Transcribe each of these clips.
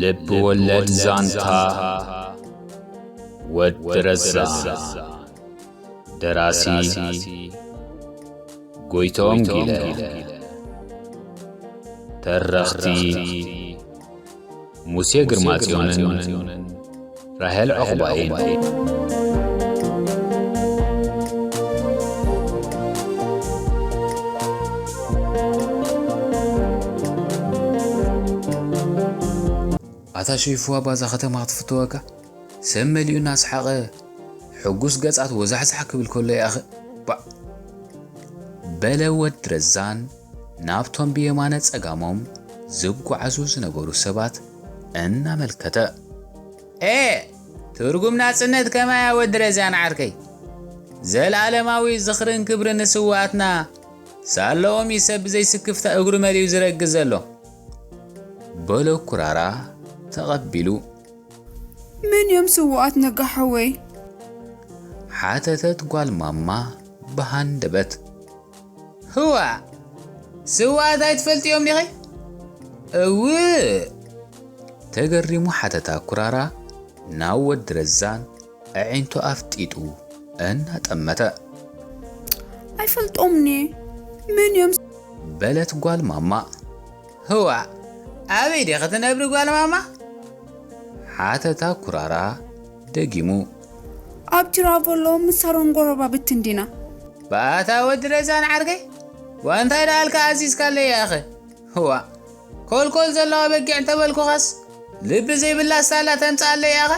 ልብ ወለድ ዛንታ ወዲ ረዛ ደራሲ ጎይቶም ጊለ ተረኽቲ ሙሴ ግርማጽዮንን ራሄል ዑቕባይን። ኣታ ሸይፉ ኣባ እዛ ከተማ ክትፍተወካ ሰብ መሊኡ እናሰሓቐ ሕጉስ ገጻት ወዛሕዛሕ ክብል ከሎ ያኸ ባእ በለ ወድ ረዛን ናብቶም ብየማነ ጸጋሞም ዝጓዓዙ ዝነበሩ ሰባት እናመልከተ። ኤእ ትርጉም ናጽነት ከማያ ወዲ ረዛን ዓርከይ ዘልኣለማዊ ዝኽርን ክብርን ንስዋኣትና ሳለኦም እዩ ሰብ ብዘይስክፍታ እግሩ መሊኡ ዝረግዝ ዘሎ በሎ ኩራራ ተቐቢሉ መን እዮም ስውኣት ነጋ ሓወይ ሓተተት ጓል ማማ ብሃንደበት ህዋ ስውኣት ኣይትፈልጥዮም ዲኺ? እውእ! ተገሪሙ ሓተታ ኩራራ ናብ ወዲ ረዛን ኣዒንቱ ኣፍጢጡ እናጠመተ። ኣይፈልጦምን'የ፣ መን እዮም? በለት ጓል ማማ። ህዋ ኣበይ ዲኺ ትነብሪ ጓል ማማ? ሓተታ ኩራራ። ደጊሙ። ኣብ ቲራቮሎ ምስ ሳሮን ጎረባብቲ እንዲና። ባታ ወዲ ረዛን ዓርከይ ዋንታይ ደኣልካ ኣዚዝካለይ ያኣኺ እዋእ ኮልኮል ዘለዋ በጊዕ እንተበልኩኻስ ልቢ ዘይብላ ሳላ ተምጽኣለይ ያኣኻ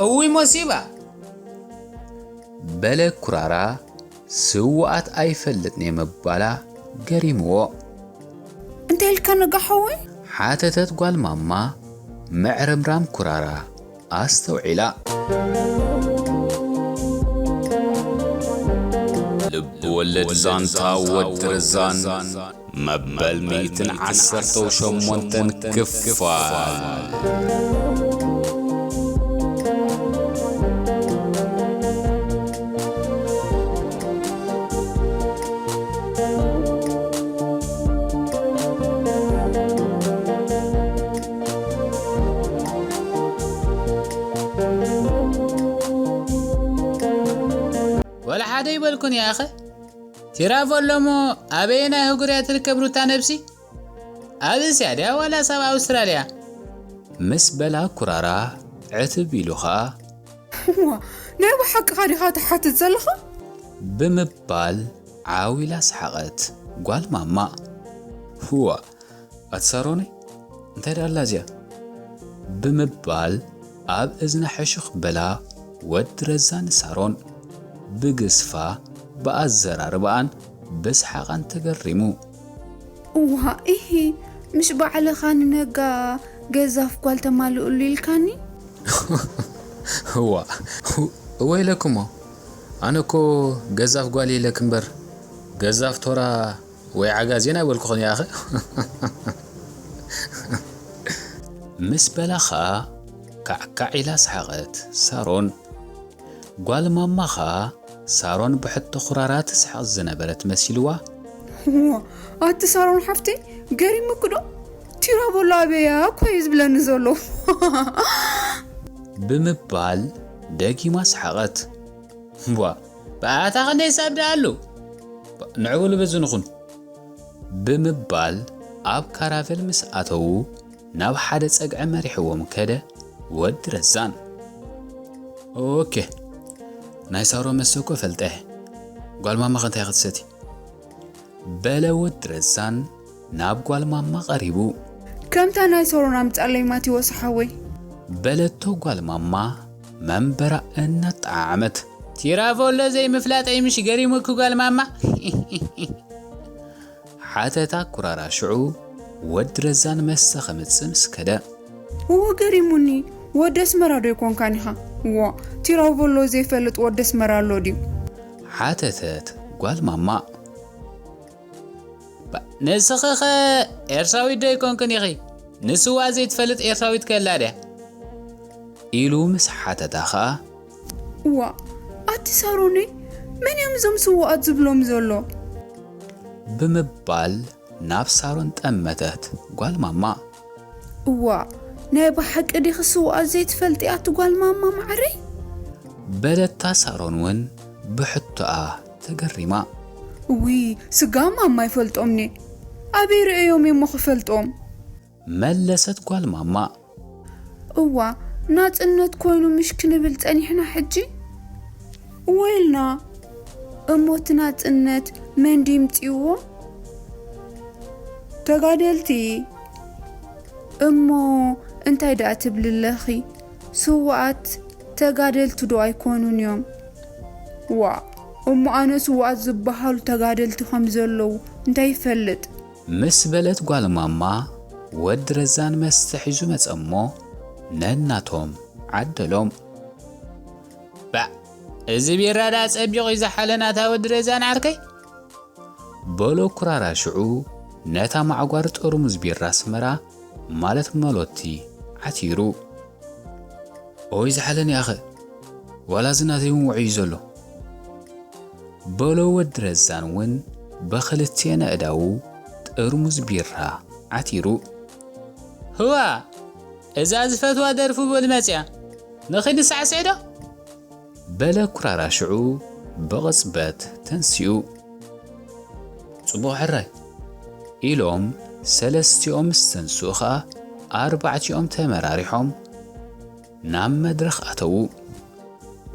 እውይ ሞሲባ በለ ኩራራ ስውኣት ኣይፈልጥኔ ምባላ ገሪምዎ። እንታይ ኢልካ ነጋ ሓወይ? ሓተተት ጓል ማማ ምዕርምራም ኩራራ። ኣስተውዒላ። ልብወለድ ዛንታ ወዲ ረዛን መበል ሚእትን ዓሰርተው ሸሞንተን ክፋል። ወላ ሓደ ኣይበልኩን ያኸ ቲራቮሎ እሞ ኣበየናይ ኣህጉር እያ ትርከብ ሩታ ነብሲ ኣብ እስያ ድያ ዋላስ ኣብ ኣውስትራልያ ምስ በላ ኩራራ ዕትብ ኢሉ ኸኣ እሞ ናይ ብሓቅኻ ዲኻ ትሓትት ዘለኻ ብምባል ዓው ኢላ ሰሓቐት ጓል ማማ ህዋ ኣቲ ሳሮነይ እንታይ ደኣ ኣላ እዚኣ ብምባል ኣብ እዝና ሕሹኽ በላ ወዲ ረዛ ንሳሮን ብግስፋ ብኣዘራርባኣን ብስሓቓን ተገሪሙ። እዋእ ኢሂ ምስ ባዕልኻ ንነጋ ገዛፍ ጓል ተማልእሉ ኢልካኒ። እዋእ እወ ኢለክሞ ኣነ እኮ ገዛፍ ጓል ኢለኪ እምበር ገዛፍ ቶራ ወይ ዓጋዜን ኣይበልኩኽን ያኸ። ምስ በላ ኸኣ ካዕካዕ ኢላ ሰሓቐት ሳሮን። ጓል ማማ ኸኣ ሳሮን ብሕቶ ኹራራ ትስሕቕ ዝነበረት መሲልዋ። እዋ ኣቲ ሳሮን ሓፍተይ ገሪሙኪ'ዶ? ቲራቮሎ ኣበይ'ያ እኮ'ዩ ዝብለኒ ዘሎ። ብምባል ደጊማ ሰሓቐት። እዋ ብኣያታ ክንደይ ሳብ ደኣ ኣሉ ንዕብሉ በዚ ንኹን ብምባል ኣብ ካራቨል ምስ ኣተዉ ናብ ሓደ ጸግዒ መሪሕዎም ከደ ወዲ ረዛን። ኦኬ ናይ ሳሮ መስተ እኮ ፈልጠ ጓል ማማኸ እንታይ ክትሰቲ በለ ወዲ ረዛን። ናብ ጓል ማማ ቀሪቡ። ከምታ ናይ ሰሮን ኣምጻለይ ማቲዎስ ሓወይ። በለቶ ጓል ማማ መንበራ እናጠዓዓመት። ቲራቮሎ ዘይምፍላጠይ ምሽ ገሪሙኪ ጓል ማማ ሒሒሒ። ሓተታ ኩራራ ሽዑ ወዲ ረዛን መሰ ከምጽእ ምስ ከደ። እወ ገሪሙኒ ወዲ ኣስመራ ዶ ኣይኮንካን ኢኻ። ዋእ ቲራቮሎ ዘይፈልጥ ወዲ ኣስመራ ኣሎ ድዩ። ሓተተት ጓል ማማ። ንስኺኸ ኤርትራዊት ዶ ኣይኮንክን ኢኺ? ንስዋ ዘይትፈልጥ ኤርትራዊት ከ ኣላ ድያ? ኢሉ ምስ ሓተታ ኸኣ። እዋእ ኣቲ ሳሮነይ መን እዮም እዞም ስዉኣት ዝብሎም ዘሎ? ብምባል ናብ ሳሮን ጠመተት ጓል ማማ። እዋእ ናይ ብሓቂ ዲኺ ስዉኣት ዘይትፈልጢ ኣቲ ጓል ማማ ማዓረይ? በለታ ሳሮን ውን ብሕቶኣ ተገሪማ። እውይ ስጋ ማማ ይፈልጦምኔ ኣበይ ርእየዮም እዩሞ ክፈልጦም። መለሰት ጓል ማማ። እዋ ናጽነት ኮይኑ ምሽ ክንብል ጸኒሕና ሕጂ እወ ኢልና እሞ እቲ ናጽነት መን ድዩ ምጺእዎ? ተጋደልቲ። እሞ እንታይ ደኣ ትብሊ ኣለኺ ስውኣት ተጋደልቲ ዶ ኣይኮኑን እዮም? ዋእ እሞ ኣነ ስውኣት ዝብሃሉ ተጋደልቲ ከም ዘለዉ እንታይ ይፈልጥ። ምስ በለት ጓል ማማ ወዲ ረዛን መስተ ሒዙ መጸ'ሞ ነናቶም ዓደሎም። ባእ እዚ ቢራ ደኣ ጸቢቑ እዩ ዝሓለ ናታ ወዲ ረዛን ዓርከይ። በሎ ኩራራ ሽዑ ነታ ማዕጓር ጠርሙዝ ቢራ ኣስመራ ማለት መሎቲ ዓቲሩ ኦይ ዝሓለኒ ኣኸ ዋላ እዚ ናተይ ውን ወዕዩ ዘሎ በሎ ወዲ ረዛን ውን በክልቴን ኣእዳዉ ጥርሙዝ ቢራ ዓቲሩ። ህዋ እዛ ዝፈትዋ ደርፉ በሉ መጽያ ንኺድ ንሳዕስዕ ዶ። በለ ኩራራ ሽዑ ብቕጽበት ተንሲኡ። ጽቡቕ ሕራይ! ኢሎም ሰለስቲኦም ምስ ተንስኡ ከኣ ኣርባዕቲኦም ተመራሪሖም ናብ መድረኽ ኣተዉ።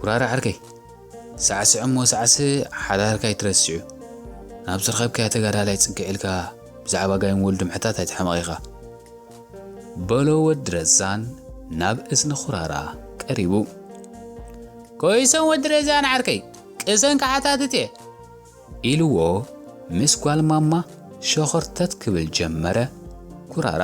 ኩራራ ዕርከይ! ሳዕስዕ እሞ ሳዕስዕ ሓዳርካ ኣይትረስዕ'ዩ። ናብ ዝረኸብካዮ ተጋዳላይ ጽግዕ ኢልካ ብዛዕባ ጋይም ወልዱ ምሕታት ኣይትሕመቕ ኢኻ። በሎ ወዲ ረዛን ናብ እዝኒ ኩራራ ቀሪቡ። ኮይሶም ወዲ ረዛን ዓርከይ፣ ቅሰን ክሓታትት'የ። ኢልዎ ምስ ጓል ማማ ሸኾርተት ክብል ጀመረ ኩራራ።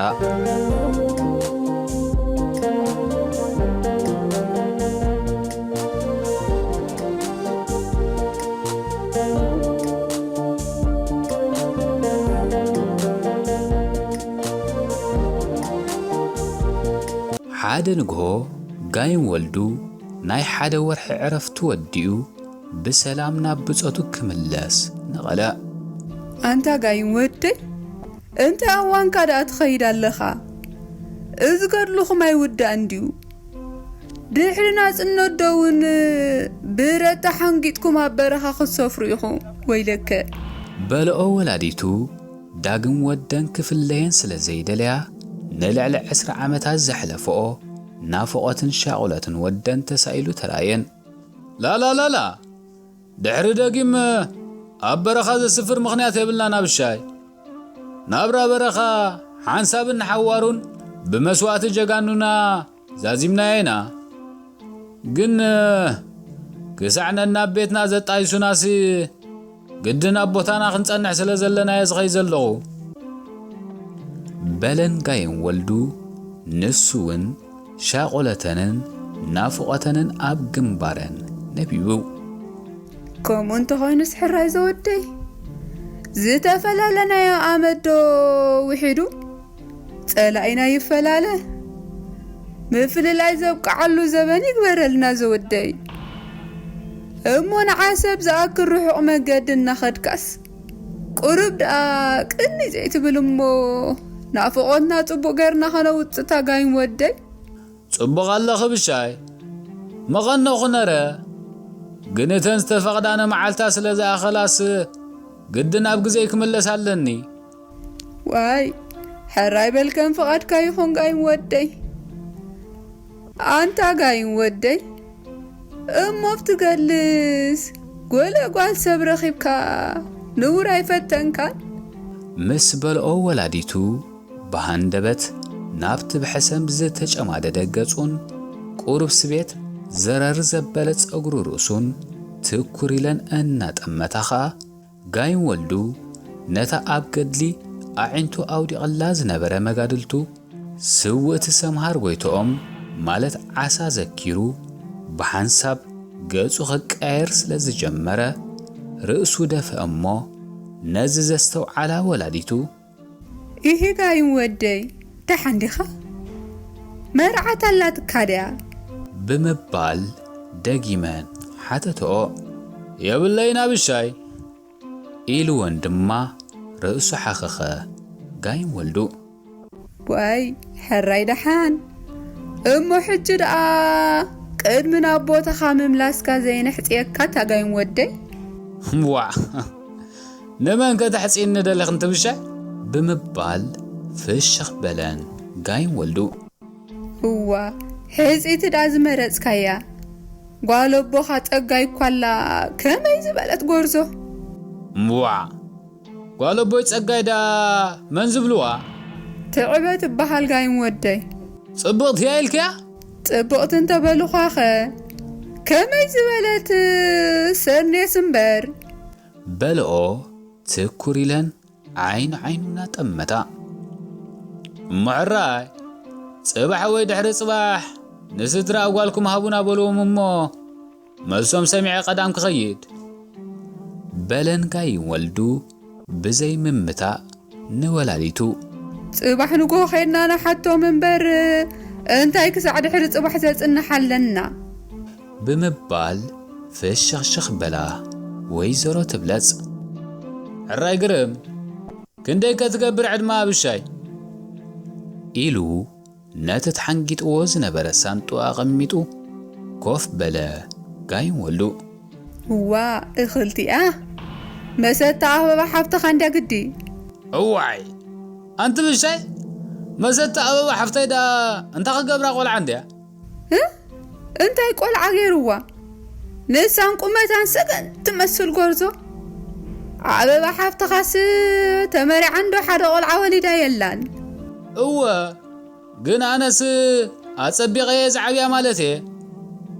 ሓደ ንግሆ ጋይም ወልዱ ናይ ሓደ ወርሒ ዕረፍቱ ወዲኡ ብሰላም ናብ ብጾቱ ክምለስ ንቐለዕ። ኣንታ ጋይም ወደይ እንተ ኣዋንካ ደኣ ትኸይድ ኣለኻ እዚ ገድልኹም ኣይውዳእን ድዩ ድሕሪ ናጽነት ዶ ውን ብረት ተሓንጊጥኩም ኣብ በረኻ ክትሰፍሩ ኢኹም ወይለከ። በልኦ ወላዲቱ ዳግም ወደን ክፍለየን ስለ ዘይደለያ፣ ንልዕሊ ዕስራ ዓመታት ዘሕለፈኦ ናፍቖትን ሻቑሎትን ወደን ተሳኢሉ ተራእየን። ላላላላ! ድሕሪ ደጊም ኣብ በረኻ ዘስፍር ምኽንያት የብልናን ኣብሻይ። ናብራ በረኻ ሓንሳብን ንሓዋሩን ብመስዋእቲ ጀጋኑና፣ ዛዚምናዮ ኢና ግን ክሳዕ ነናብ ቤትና ዘጣይሱናሲ ግድን ኣብ ቦታና ክንጸንሕ ስለ ዘለናየ ዝኸይ ዘለኹ። በለን ጋይም ወልዱ ንሱውን ሻቖለተንን ናፍቖተንን ኣብ ግንባረን ነቢቡ። ከምኡ እንተኾይኑስ ሕራይ ዘወደይ ዝተፈላለናዮ ኣመትዶ ውሒዱ? ጸላኢና ይፈላለ ምፍልላይ ዘብቅዓሉ ዘበን ይግበረልና ዘወደይ እሞ ንዓሰብ ዝኣክል ርሑቕ መገዲ እናኸድካስ ቁሩብ ደኣ ቅኒ ዘይትብል እሞ ናፍቖትና ጽቡቕ ገርና ከነውጽእ ታጋይም ወደይ ጽቡቕ ኣለኺ ብሻይ መቐነኹ ነረ ግን እተን ዝተፈቕዳነ መዓልታ ስለ ዝኣኸላስ ግድን ኣብ ግዜይ ክምለስ ኣለኒ። ዋይ ሕራይ በል ከም ፍቓድካ ይኹን ጋይም ወደይ ኣንታ ጋይም ወደይ እሞ ብትገልስ ጎለ ጓል ሰብ ረኺብካ ንቡር ኣይፈተንካን ምስ በልኦ ወላዲቱ ብሃንደበት ናብቲ ብሕሰም ዝተጨማደደ ገጹን ቁሩብ ስቤት ዘረር ዘበለ ጸጉሪ ርእሱን ትኩር ኢለን እናጠመታ ኸኣ ጋይም ወልዱ ነታ ኣብ ገድሊ ኣዒንቱ ኣውዲቐላ ዝነበረ መጋድልቱ ስውእቲ ሰምሃር ጎይትኦም ማለት ዓሳ ዘኪሩ ብሓንሳብ ገጹ ክቀያየር ስለ ዝጀመረ ርእሱ ደፍአ እሞ ነዚ ዘስተውዓላ ወላዲቱ ኢሂጋይን ወደይ ደሓን ዲኻ? መርዓት ኣላትካ ድያ? ብምባል ደጊመን ሓተትኦ። የብለይን ኣብሻይ! ኢልወን ድማ ርእሱ ሓኸኸ። ጋይም ወልዱ። ዋይ ሕራይ ደሓን! እሞ ሕጂ ደኣ ቅድሚ ናብ ቦታኻ ምምላስካ ዘይነሕጽየካ እታ ጋይም ወደይ። ዋዕ! ንመን ከተሕጺኒ ደለኺ እንትብሻይ? ብምባል ፍሽኽ በለን ጋይም ወልዱ። እዋ ሕጽይቲ ድኣ ዝመረጽካያ፣ ጓል ኣቦኻ ጸጋይ እኳ ኣላ ከመይ ዝበለት ጎርዞ! እምቧእ! ጓል ኣቦይ ጸጋይ ድኣ መን ዝብልዋ? ትዕበ ትበሃል ጋይም ወደይ። ጽብቕቲ'ያ ኢልክያ? ጽብቕቲ እንተበሉኻኸ ከመይ ዝበለት ሰኔስ እምበር! በልኦ ትኩር ኢለን ዓይኒ ዓይኑ እናጠመታ። እሞ ዕራይ ጽባሕ ወይ ድሕሪ ጽባሕ ንስድራ ኣጓልኩም ሃቡና በልዎም እሞ መልሶም ሰሚዐ ቀዳም ክኸይድ። በለን ጋይ ወልዱ ብዘይ ምምታእ ንወላዲቱ። ጽባሕ ንግሆ ከይድና ንሓቶም እምበር እንታይ ክሳዕ ድሕሪ ጽባሕ ዘጽንሓለና። ብምባል ፍሽኽሽኽ በላ ወይዘሮ ትብለጽ። ሕራይ ግርም! ክንደይከ ትገብር ዕድመ ኣብሻይ? ኢሉ ነቲ ተሓንጊጥዎ ዝነበረ ሳንጥኡ ኣቐሚጡ ኮፍ በለ ጋይም ወልዱ። እዋእ እኽልቲኣ! መሰታ ኣበባ ሓብትኻ እንድያ ግዲ! እዋይ! ኣንቲ ብሻይ! መሰታ ኣበባ ሓፍተይ ደኣ እንታይ ክገብራ ቆልዓ እንድያ! እንታይ ቆልዓ ገይርዋ ንሳን ቁመታን ሰገን ትመስል ጎርዞ ኣበባ ሓፍትኻስ ተመሪዓ እንዶ ሓደ ቆልዓ ወሊዳ የላን እወ ግን ኣነስ ኣጸቢቐ እየ ዝዓብያ ማለት እየ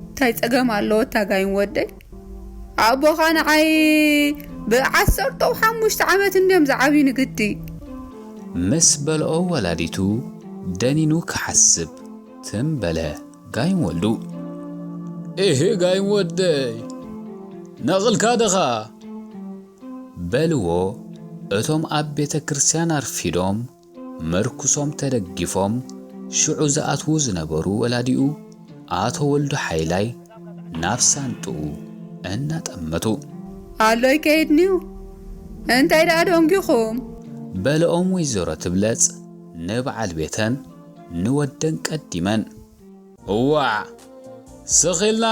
እንታይ ጸገም ኣለዎ ታጋይን ወደይ ኣቦኻ ንዓይ ብዓሰርተው ሓሙሽተ ዓመት እንድዮም ዝዓብዩ ንግዲ ምስ በልኦ ወላዲቱ ደኒኑ ክሓስብ ትም በለ ጋይም ወልዱ። እህ ጋይም ወደይ ነቕልካ ደኻ። በልዎ እቶም ኣብ ቤተ ክርስቲያን ኣርፊዶም ምርኩሶም ተደጊፎም ሽዑ ዝኣትዉ ዝነበሩ ወላዲኡ ኣቶ ወልዱ ሓይላይ ናብ ሳንጥኡ እናጠመቱ። ኣሎ ይከይድንዩ እንታይ ደኣ ደንጒኹም። በለኦም ወይዘሮ ትብለጽ ንበዓል ቤተን። ንወደን ቀዲመን። እዋዕ ስኽ ኢልና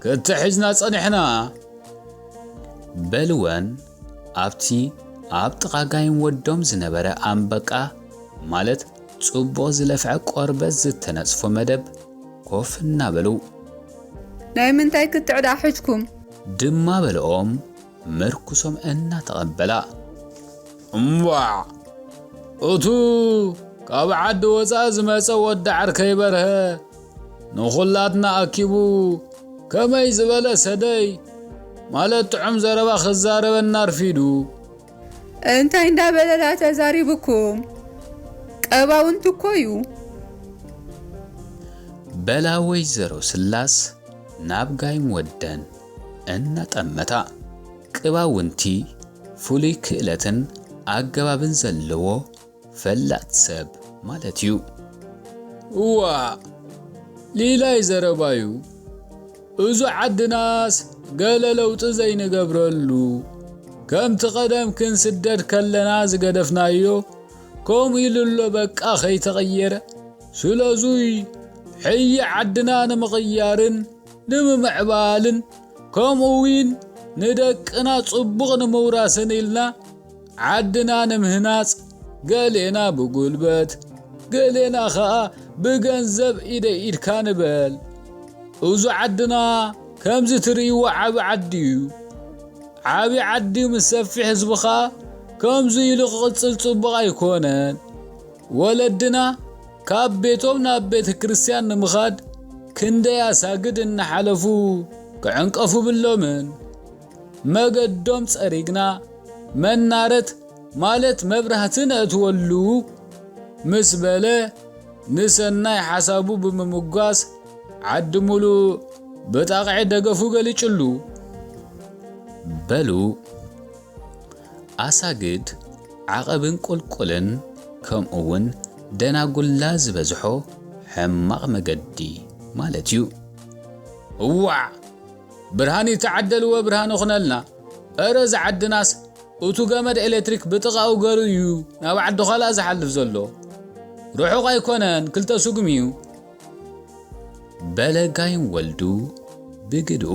ክትሕዝና ጸኒሕና። በልወን ኣብቲ ኣብ ጥቓ ጋይም ወዶም ዝነበረ ኣንበቃ ማለት ጽቡቕ ዝለፍዐ ቆርበት ዝተነጽፎ መደብ ኮፍ እናበሉ። ናይ ምንታይ ክትዕ ደኣ ሕጅኩም? ድማ በለኦም ምርኩሶም እናተቐበላ። እምቧዕ! እቱ ካብ ዓዲ ወፃኢ ዝመፀ ወዲ ዓርከይ በርሀ ንኹላትና ኣኪቡ ከመይ ዝበለ ሰደይ ማለት ጥዑም ዘረባ ክዛረበና ኣርፊዱ። እንታይ እንዳበለ ድኣ ተዛሪቡኩም? ቀባውንት እኮ እዩ። በላ ወይዘሮ ስላስ ናብ ጋይም ወደን እናጠመታ ቅባውንቲ ፍሉይ ክእለትን ኣገባብን ዘለዎ ፈላጥ ሰብ ማለት እዩ። እዋእ ሊላይ ዘረባዩ እዙ ዓድናስ ገለ ለውጢ ዘይንገብረሉ ከምቲ ቀደም ክንስደድ ከለና ዝገደፍናዮ ከምኡ ኢሉ ኣሎ በቃ ከይተቐየረ ስለዙይ ሕይ ዓድና ንምቕያርን ንምምዕባልን ከምኡውን ንደቅና ጽቡቕ ንምውራስን ኢልና ዓድና ንምህናጽ ገሌና ብጉልበት ገሌና ኸኣ ብገንዘብ ኢደይ ኢድካ ንበል እዙ ዓድና ከምዚ ትርእይዎ ዓቢ ዓዲ እዩ ዓቢ ዓዲ ምስ ሰፊሕ ህዝቢ ኸኣ ከምዙ ኢሉ ክቕጽል ጽቡቕ ኣይኮነን ወለድና ካብ ቤቶም ናብ ቤተ ክርስቲያን ንምኻድ ክንደይ ኣሳግድ እናሓለፉ ክዕንቀፉ ብሎምን መገዶም ጸሪግና መናረት ማለት መብራህቲ ነእትወሉ ምስ በለ ንሰናይ ሓሳቡ ብምምጓስ ዓዲ ሙሉእ ብጣቕዒ ደገፉ ገሊጹሉ። በሉ። ኣሳግድ ዓቐብን ቁልቁልን ከምኡ ውን ደናጉላ ዝበዝሖ ሕማቕ መገዲ ማለት ዩ። እዋዕ ብርሃን ይተዓደልዎ ብርሃን ይኹነልና እረ እዛ ዓድናስ እቱ ገመድ ኤሌክትሪክ ብጥቓኡ ገሩ እዩ ናብ ዓዲ ዃላ ዝሓልፍ ዘሎ ርሑቕ ኣይኮነን ክልተ ስጉም እዩ በለጋይን ወልዱ ብግድኡ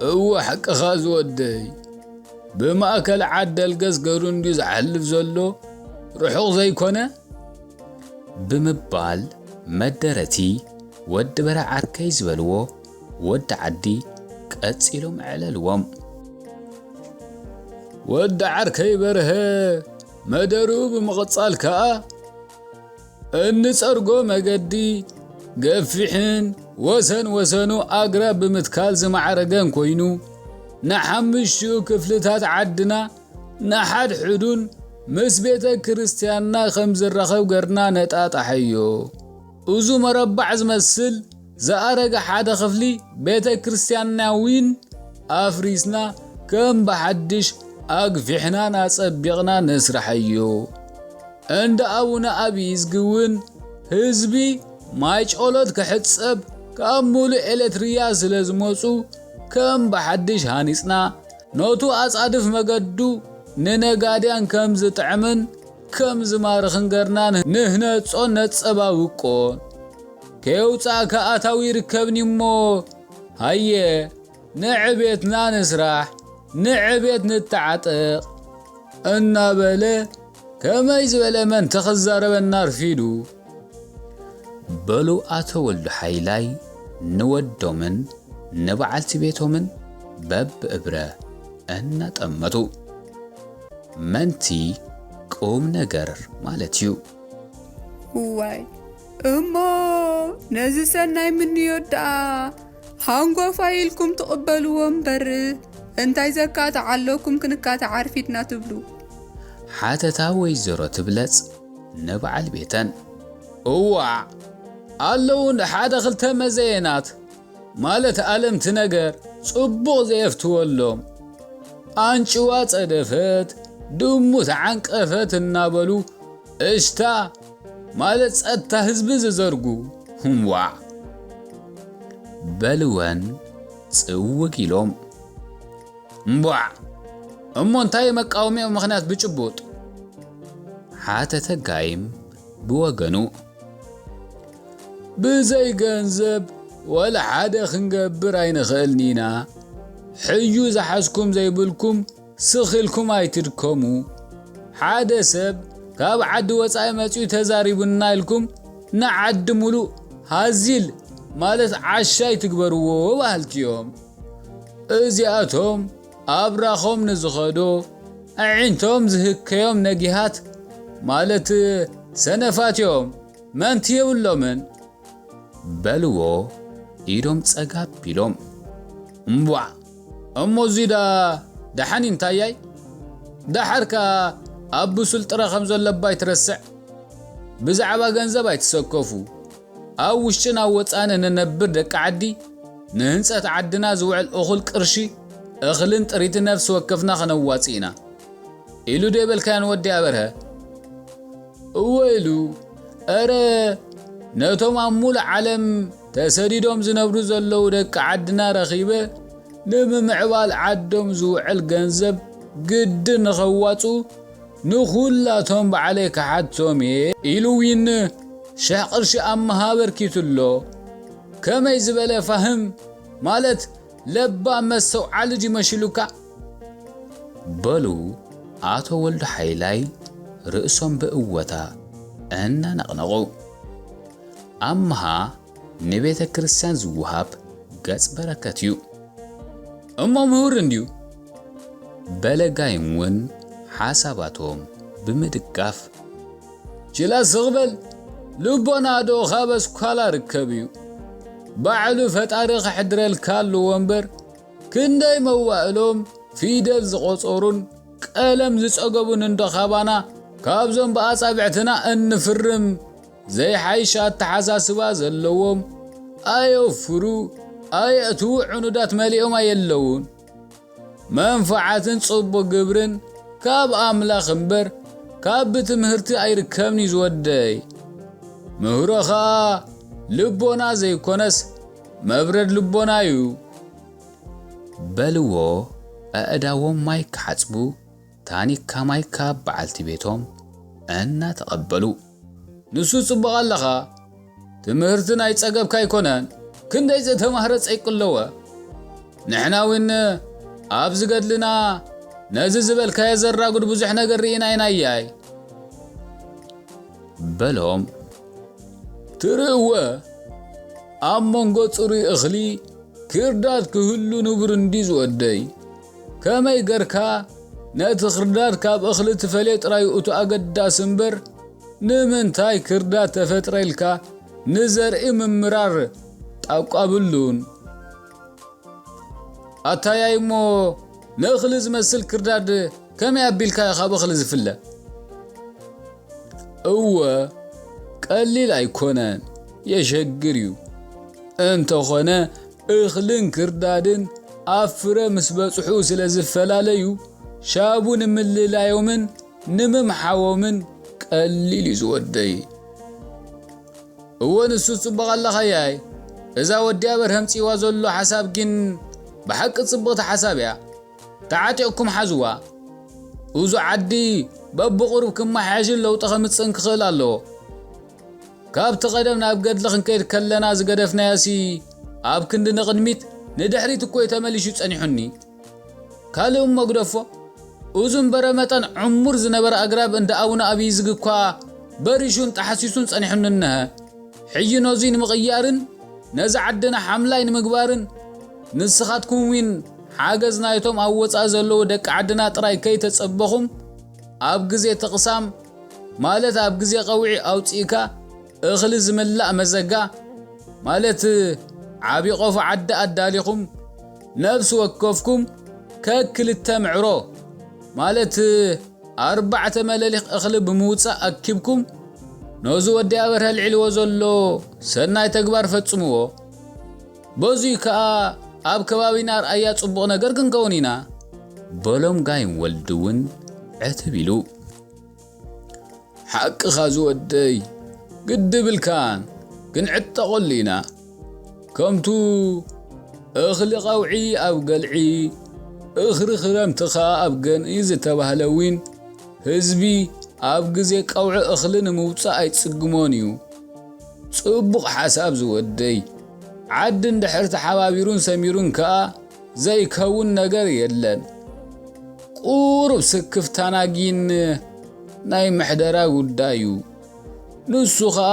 እወ ሓቅኻ ዝወደይ ብማእከል ዓደል ገዝገሩ እንድዩ ዝሓልፍ ዘሎ ርሑቕ ዘይኮነ ብምባል መደረቲ ወዲ በረ ዓርከይ ዝበልዎ ወዲ ዓዲ ቀጺሎም ኣዕለልዎም። ወዲ ዓርከይ በርሀ መደርኡ ብምቕጻል ከኣ እንፀርጎ መገዲ ገፊሕን ወሰን ወሰኑ ኣግራብ ብምትካል ዝማዕረገን ኮይኑ ንሓምሽኡ ክፍልታት ዓድና ንሓድሕዱን ምስ ቤተ ክርስቲያንና ከም ዝራኸብ ገርና ነጣጣሐዮ። እዙ መረባዕ ዝመስል ዝኣረገ ሓደ ክፍሊ ቤተ ክርስቲያንና ዊን ኣፍሪስና ከም ብሓድሽ ኣግፊሕናን ኣጸቢቕና ነስርሐዮ። እንዳ ኣቡነ ኣብይዝጊ እውን ህዝቢ ማይ ጨሎት ክሕጸብ ካብ ሙሉእ ኤሌትሪያ ስለ ዝመጹ ከም ብሓድሽ ሃኒጽና ነቱ ኣጻድፍ መገዱ ንነጋድያን ከም ዝጥዕምን ከም ዝማርኽን ገርና ንህነጾን ነጸባብቆን። ከየውጻእካ ኣታዊ ይርከብኒ'ሞ ሃየ ንዕቤትና ንስራሕ ንዕቤት ንተዓጠቕ እናበለ ከመይ ዝበለ መንተ ክዛረበና ኣርፊዱ። በሉ ኣቶ ወልዱ ሓይላይ ንወዶምን ንበዓልቲ ቤቶምን በብእብረ እናጠመቱ መንቲ ቁም ነገር ማለት እዩ። እዋይ እሞ ነዚ ሰናይ ምንዮት ደኣ ሃንጎፋይ ኢልኩም ትቕበልዎ እምበር እንታይ ዘካትዕ ኣለኩም ክንካትዕ ኣርፊድና ትብሉ? ሓተታ ወይዘሮ ትብለጽ ንበዓል ቤተን። እዋዕ! ኣለዉ ሓደ ክልተ መዘየናት፣ ማለት ኣለምቲ ነገር ጽቡቕ ዘየፍትወሎም፣ ኣንጭዋ ጸደፈት፣ ድሙ ተዓንቀፈት እናበሉ እሽታ ማለት ጸታ ህዝቢ ዝዘርጉ ሁም ዋዕ በልወን ጽውግ ኢሎም እምቧዕ እሞ እንታይ መቃወሚኦም ምኽንያት ብጭቡጥ ሓተተ ጋይም ብወገኑ ብዘይ ገንዘብ ወላ ሓደ ክንገብር ኣይንኽእልኒና ሕዩ ዝሓዝኩም ዘይብልኩም ስኽ ኢልኩም ኣይትድከሙ ሓደ ሰብ ካብ ዓዲ ወጻኢ መጺኡ ተዛሪቡና ኢልኩም ንዓዲ ሙሉእ ሃዚል ማለት ዓሻ ኣይትግበርዎ በሃልቲ እዮም እዚኣቶም ኣብራኾም ንዝኸዶ ኣዒንቶም ዝህከዮም ነጊሃት ማለት ሰነፋት እዮም መንቲ የብሎምን በልዎ ኢዶም ጸጋብ ቢሎም እምቧዕ እሞ እዙይ ደኣ ደሓን እዩ እንታያይ? ደሓር ከኣ ኣብ ብሱል ጥረ ከም ዘሎ እባ ኣይትረስዕ። ብዛዕባ ገንዘብ ኣይትሰከፉ። ኣብ ውሽጥን ኣብ ወጻእን እንነብር ደቂ ዓዲ ንህንጸት ዓድና ዝውዕል እኹል ቅርሺ እኽልን ጥሪትን ነፍሲ ወከፍና ከነዋጽእ ኢና። ኢሉ ዶ ኣይበልካዮን ወዲ ኣበርሀ? እወ ኢሉ። እረ ነቶም ኣብ ምሉእ ዓለም ተሰዲዶም ዝነብሩ ዘለዉ ደቂ ዓድና ረኺበ ንምምዕባል ዓዶም ዝውዕል ገንዘብ ግድን ንኸዋፅኡ ንኹላቶም ባዕለይ ክሓቶም እየ ኢሉ ዊን ሽሕ ቕርሺ ኣምሃ ኣበርኪቱ'ሎ። ከመይ ዝበለ ፋህም ማለት ለባም መስተውዓሊ ድዩ መሺሉካ? በሉ ኣቶ ወልዱ ሓይላይ ርእሶም ብእወታ እናነቕነቑ። ኣምሃ ንቤተ ክርስቲያን ዝወሃብ ገጽ በረከት እዩ። እሞ ምሁር እንድዩ በለ ጋይም ውን ሓሳባቶም ብምድጋፍ። ጅላ ስቕ በል ልቦና ዶ ካብ ኣስኳላ ርከብ እዩ ባዕሉ ፈጣሪ ከሕድረልካ ኣለዎ እምበር ክንደይ መዋእሎም ፊደል ዝቖጸሩን ቀለም ዝጸገቡን እንዶ ካባና ካብዞም ብኣጻብዕትና እንፍርም ዘይሓይሽ ኣተሓሳስባ ዘለዎም ኣየውፍሩ ኣየእትዉ ዕኑዳት መሊኦም ኣየለዉን መንፍዓትን ጽቡቅ ግብርን ካብ ኣምላኽ እምበር ካብ ብትምህርቲ ኣይርከብንዩ ዝወደይ ምህሮ ኸኣ ልቦና ዘይኮነስ መብረድ ልቦና እዩ በልዎ ኣእዳዎም ማይ ክሓጽቡ ታኒካ ማይ ካብ በዓልቲ ቤቶም እናተቐበሉ። ንሱ ጽቡቕ ኣለኻ ትምህርቲ ናይ ጸገብካ ኣይኮነን ክንደይ ዘተማህረ ጸይቅለወ ንሕና ዊን ኣብዚ ገድልና ነዚ ዝበልካዮ ዘራጉድ ብዙሕ ነገር ርኢና ኢና ያይ በሎም ትርእወ ኣብ መንጎ ጽሩይ እኽሊ ክርዳድ ክህሉ ንቡር እንዲ ዝወደይ ከመይ ገርካ ነቲ ክርዳድ ካብ እኽሊ ትፈልዮ ጥራዩ እቱ ኣገዳሲ እምበር ንምንታይ ክርዳድ ተፈጥረ ኢልካ ንዘርኢ ምምራር ጣቋብሉን ኣታያይ እሞ ንእኽሊ ዝመስል ክርዳድ ከመይ ኣቢልካ ካብ እኽሊ ዝፍለ እወ ቀሊል ኣይኮነን የሸግር እዩ እንተኾነ እኽልን ክርዳድን ኣብ ፍረ ምስ በጽሑ ስለ ዝፈላለዩ፣ ሻቡ ንምልላዮምን ንምምሓዎምን ቀሊል እዩ ዝወደይ። እወ ንሱስ ጽቡቕ ኣለኻያይ እዛ ወዲ ኣበር ሀምጺዋ ዘሎ ሓሳብ ጊን ብሓቂ ጽብቕቲ ሓሳብ እያ ተዓጢቕኩም ሓዝዋ እዙ ዓዲ በብቑሩብ ክመሓየሽን ለውጢ ከምጽእን ክኽእል ኣለዎ። ካብቲ ቀደም ናብ ገድሊ ክንከይድ ከለና ዝገደፍናዮሲ ኣብ ክንዲ ንቕድሚት ንድሕሪት እኮዩ ተመሊሹ ጸኒሑኒ። ካልእ እሞ ግደፎ እዙን በረመጠን ዕሙር ዝነበረ ኣግራብ እንዳ ኣቡነ ኣብይዝጊ እኳ በሪሹን ጠሓሲሱን ጸኒሑኒ እነሀ። ሕጂ ነዙይ ንምቕያርን ነዚ ዓድና ሓምላይ ንምግባርን ንስኻትኩምዊን ሓገዝ ናይቶም ኣብ ወጻኢ ዘለዉ ደቂ ዓድና ጥራይ ከይተጸበኹም ኣብ ግዜ ተቕሳም ማለት ኣብ ግዜ ቀውዒ ኣውጺእካ እኽሊ ዝምላእ መዘጋ ማለት ዓቢ ቆፎ ዓዲ ኣዳሊኹም ነብሲ ወከፍኩም ከክልተ ምዕሮ ማለት ኣርባዕተ መለሊኽ እኽሊ ብምውጻእ ኣኪብኩም ነዚ ወዲ ኣበርሀ ኣልዒልዎ ዘሎ ሰናይ ተግባር ፈጽምዎ። በዙይ ከኣ ኣብ ከባቢና ኣርኣያ ጽቡቕ ነገር ክንከውን ኢና። በሎም ጋይም ወልዲውን ዕትብ ኢሉ። ሓቅኻ ዝወደይ ግዲ ብልካን ክንዕጠቐሉ ኢና። ከምቱ እኽሊ ቀውዒ ኣብ ገልዒ እኽሪ ክረምቲ ከኣ ኣብ ገንኢ ዝተባህለ ዊን ህዝቢ ኣብ ግዜ ቀውዒ እኽሊ ንምውጻእ ኣይጽግሞን እዩ። ጽቡቕ ሓሳብ ዝወደይ። ዓዲ እንድሕር ተሓባቢሩን ሰሚሩን ከኣ ዘይከውን ነገር የለን። ቁሩብ ስክፍታና ጊን ናይ ምሕደራ ጉዳይ እዩ። ንሱ ከኣ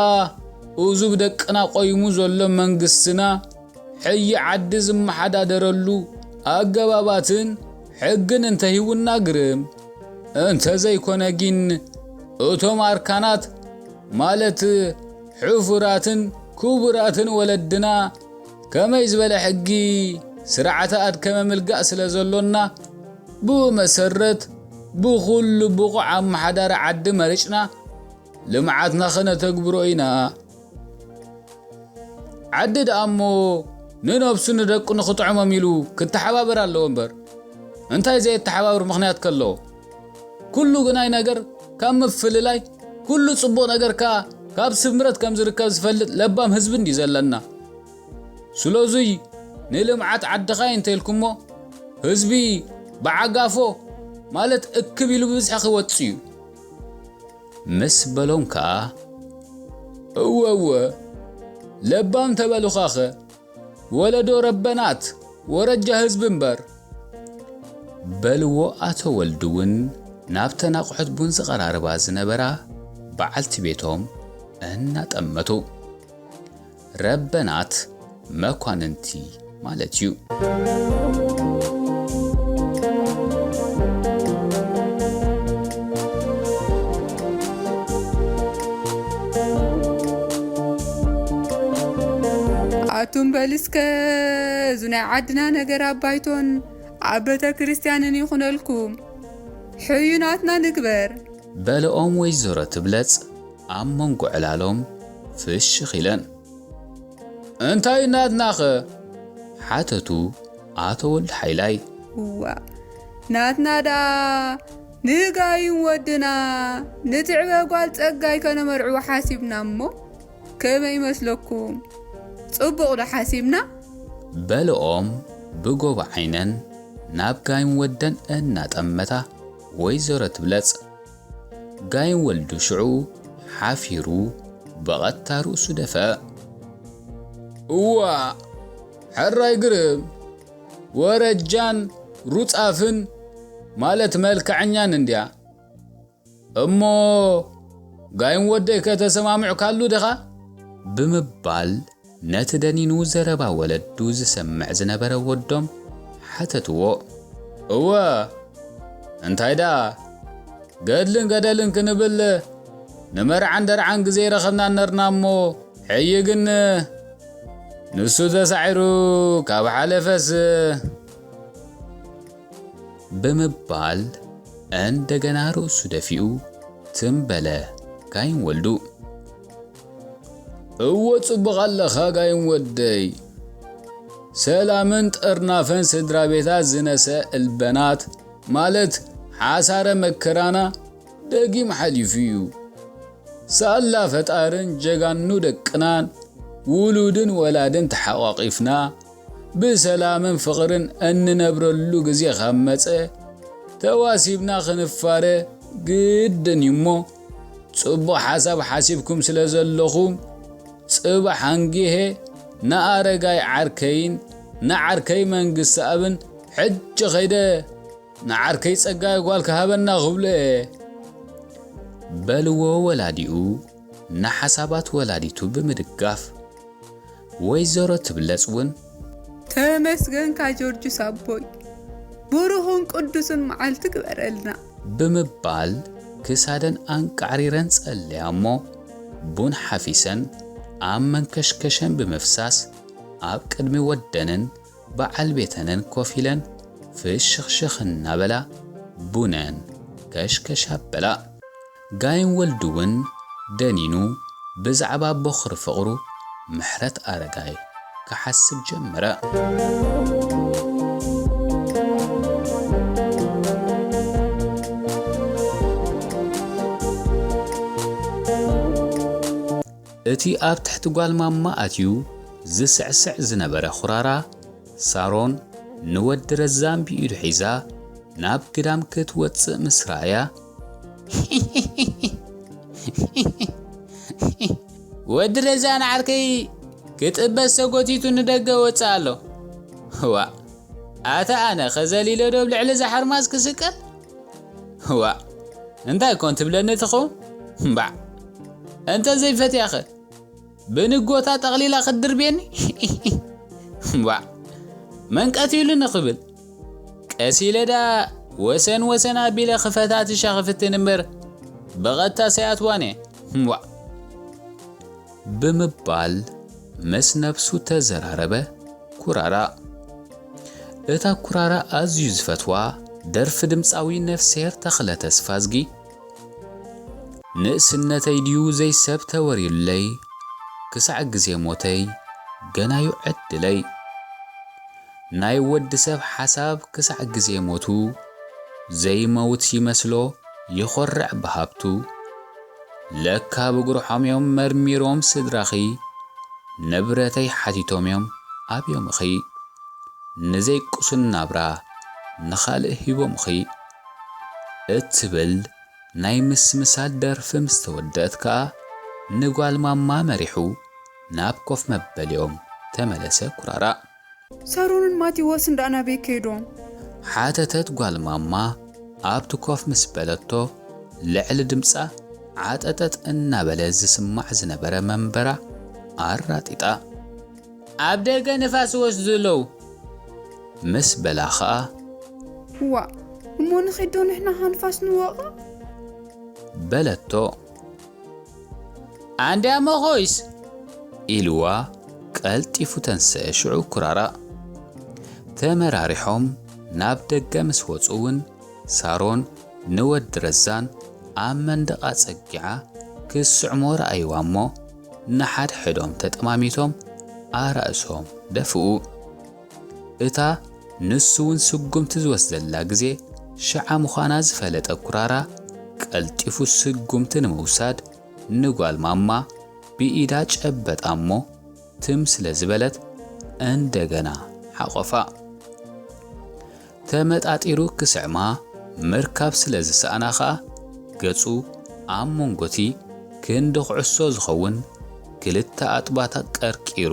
እዙ ብደቅና ቆይሙ ዘሎ መንግስትና ሕይ ዓዲ ዝመሓዳደረሉ ኣገባባትን ሕግን እንተሂውና ግርም። እንተዘይኮነ ጊን እቶም ኣርካናት ማለት ሕፉራትን ኩቡራትን ወለድና ከመይ ዝበለ ሕጊ ስርዓተ ኣድከመ ምልጋእ ስለ ዘሎና ብኡ መሰረት ብኹሉ ብቑዕ ኣመሓዳሪ ዓዲ መሪጽና ልምዓትና ከነተግብሮ ኢና። ዓዲ ደኣሞ ንነብሱ ንደቁ ንኽጥዕሞም ኢሉ ክተሓባበር ኣለዎ እምበር እንታይ ዘየተሓባብር ምኽንያት ከሎ? ኩሉ ግናይ ነገር ካብ ምፍልላይ፣ ኩሉ ጽቡቕ ነገር ከኣ ካብ ስምረት ከም ዝርከብ ዝፈልጥ ለባም ህዝቢ እንድዩ ዘለና። ስለዙይ ንልምዓት ዓድኻ'የ እንተኢልኩሞ፣ ህዝቢ ብዓጋፎ ማለት እክብ ኢሉ ብብዝሒ ክወጽእ'ዩ። ምስ በሎም ከኣ፣ እወ እወ ለባም ተበሉኻ'ኸ! ወለዶ ረበናት ወረጃ ህዝቢ እምበር። በልዎ ኣቶ ወልዱ'ውን ናብተን ኣቑሑት ቡን ዝቐራርባ ዝነበራ በዓልቲ ቤቶም እናጠመቱ። ረበናት መኳንንቲ ማለት እዩ። ኣቱም በል እስከ እዚ ናይ ዓድና ነገር ኣብ ባይቶን ኣብ ቤተክርስትያንን ይኹነልኩም ሕዩናትና ንግበር። በለኦም ወይዘሮ ትብለጽ ኣብ መንጎ ዕላሎም ፍሽኽ ኢለን። እንታይ ናትናኸ? ሓተቱ ኣቶ ወልደሓይላይ። እዋእ ናትና ደኣ ንጋይም ወድና ንትዕበ ጓል ጸጋይ ከነመርዕዎ ሓሲብና እሞ ከመይ ይመስለኩም ጽቡቅ ዶ ሓሲብና። በልኦም ብጎቦ ዓይነን ናብ ጋይም ወደን እናጠመታ ወይዘሮ ትብለጽ ጋይም ወልዱ ሽዑ ሓፊሩ ብቐጥታ ርእሱ ደፍእ። እዋእ! ሕራይ ግርም! ወረጃን ሩጻፍን ማለት መልክዐኛን እንድያ እሞ ጋይም ወደይ ከተሰማምዕካሉ ድኻ ብምባል ነቲ ደኒኑ ዘረባ ወለዱ ዝሰምዕ ዝነበረ ወዶም ሓተትዎ። እወ እንታይ ደኣ ገድልን ገደልን ክንብል ንመርዓን ደርዓን ግዜ ረኸብና ነርና እሞ ሕይ ግን ንሱ ተሳዒሩ ካብ ሓለፈስ ብምባል እንደገና ርእሱ ደፊኡ ትም በለ ጋይም ወልዱ። እወ ጽቡቕ ኣለኻ ጋይም ወደይ። ሰላምን ጥርናፈን ስድራ ቤታት ዝነሰ እልበናት ማለት ሓሳረ መከራና ደጊም ሓሊፉ እዩ ሳላ ፈጣርን ጀጋኑ ደቅናን ውሉድን ወላድን ተሓቋቒፍና ብሰላምን ፍቕርን እንነብረሉ ግዜ ካብ መጸ ተዋሲብና ክንፋረ ግድን እዩ እሞ ጽቡቕ ሓሳብ ሓሲብኩም ስለ ዘለኹም ጽባሕ ኣንጊሄ ንኣረጋይ ዓርከይን ንዓርከይ መንግስትኣብን ሕጂ ከይደ ንዓርከይ ጸጋይ ጓል ክሃበና ክብል'የ። በልዎ ወላዲኡ ንሓሳባት ወላዲቱ ብምድጋፍ። ወይዘሮ ትብለጽ ውን። ተመስገንካ ጆርጁስ ኣቦይ ብሩኽን ቅዱስን መዓልቲ ግበረልና። ብምባል ክሳደን ኣንቃዕሪረን ጸለያ'ሞ ቡን ሓፊሰን ኣብ መንከሽከሸን ብምፍሳስ ኣብ ቅድሚ ወደንን በዓል ቤተንን ኮፍ ኢለን ፍሽኽሽኽ እናበላ ቡነን ከሽከሽ ኣበላ። ጋይም ወልዱ'ውን ደኒኑ ብዛዕባ ቦኽሪ ፍቕሩ ምሕረትኣረጋይ ክሓስብ ጀመረ። እቲ ኣብ ትሕቲ ጓል ማማ ኣትዩ ዝስዕስዕ ዝነበረ ኹራራ፣ ሳሮን ንወዲ ረዛን ብኢዱ ሒዛ ናብ ግዳም ክትወጽእ ምስ ረኣያ፣ ሂሂሂ ዋእ ኣታ ኣነ ከ ዘሊለ ዶ ኣብ ልዕሊ እዛ ሓርማዝ ክስቀል? ዋእ እንታይ ኮን ትብለኒ ትኸውን ባዕ እንተ ዘይፈትያኸ ብንጎታ ጠቕሊላ ክትድርብየኒ ባዕ መን ቀትሉኒ ክብል ቀስ ኢለ ደኣ ወሰን ወሰን ኣቢለ ክፈታትሻ ክፍትን እምበር ብቐጥታ ሰይኣትዋን እየ ዋእ ብምባል ምስ ነብሱ ተዘራረበ ኩራራ። እታ ኩራራ ኣዝዩ ዝፈትዋ ደርፊ ድምጻዊ ነፍስሄር ተኽለ ተስፋዝጊ፣ ንእስነተይ ድዩ ዘይሰብ ተወርዩለይ ክሳዕ ግዜ ሞተይ ገና'ዩ ዕድለይ፣ ናይ ወዲ ሰብ ሓሳብ ክሳዕ ግዜ ሞቱ ዘይመውት ይመስሎ ይኾርዕ ብሃብቱ፣ ለካ ብጉርሖም'ዮም መርሚሮም ስድራኺ ንብረተይ ሓቲቶም'ዮም ኣብዮምኺ ንዘይ ቅሱን ናብራ ንኻልእ ሂቦምኺ እትብል ናይ ምስምሳል ደርፊ ምስ ተወድእት ከኣ ንጓል ማማ መሪሑ ናብ ኮፍ መበሊኦም ተመለሰ ኩራራእ። ሳሮንን ማቲዎስን ደኣ ናበይ ከይዶም? ሓተተት ጓል ማማ ኣብቲ ኮፍ ምስ በለቶ ልዕሊ ድምጻ ዓጠጠጥ እናበለ ዝስማዕ ዝነበረ መንበራ ኣራጢጣ። ኣብ ደገ ንፋስ ይወስዱ ኣለዉ። ምስ በላ ከኣ። ዋእ እሞ ንኺድዶ ንሕና ከኣ ንፋስ ንወቕዕ? በለቶ። ኣንድያ እሞ ኾይስ ኢልዋ ቀልጢፉ ተንስኤ ሽዑ ኩራራ ተመራሪሖም ናብ ደገ ምስ ወጹ እውን ሳሮን ንወዲ ረዛን ኣብ መንደቕ ኣጸጊዓ ክትስዕሞ ረኣይዋ እሞ ንሓድሕዶም ተጠማሚቶም ኣራእሶም ደፍኡ። እታ ንሱ'ውን ስጉምቲ ዝወስደላ ግዜ ሽዓ ምዃና ዝፈለጠ ኩራራ፣ ቀልጢፉ ስጉምቲ ንምውሳድ ንጓል ማማ ብኢዳ ጨበጣ'ሞ ትም ስለ ዝበለት እንደገና ሓቖፋ። ተመጣጢሩ ክስዕማ ምርካብ ስለ ዝሰኣና ከኣ ገጹ ኣብ መንጎ'ቲ ክንዲ ኩዕሶ ዝኸውን ክልተ ኣጥባታት ቀርቂሩ፣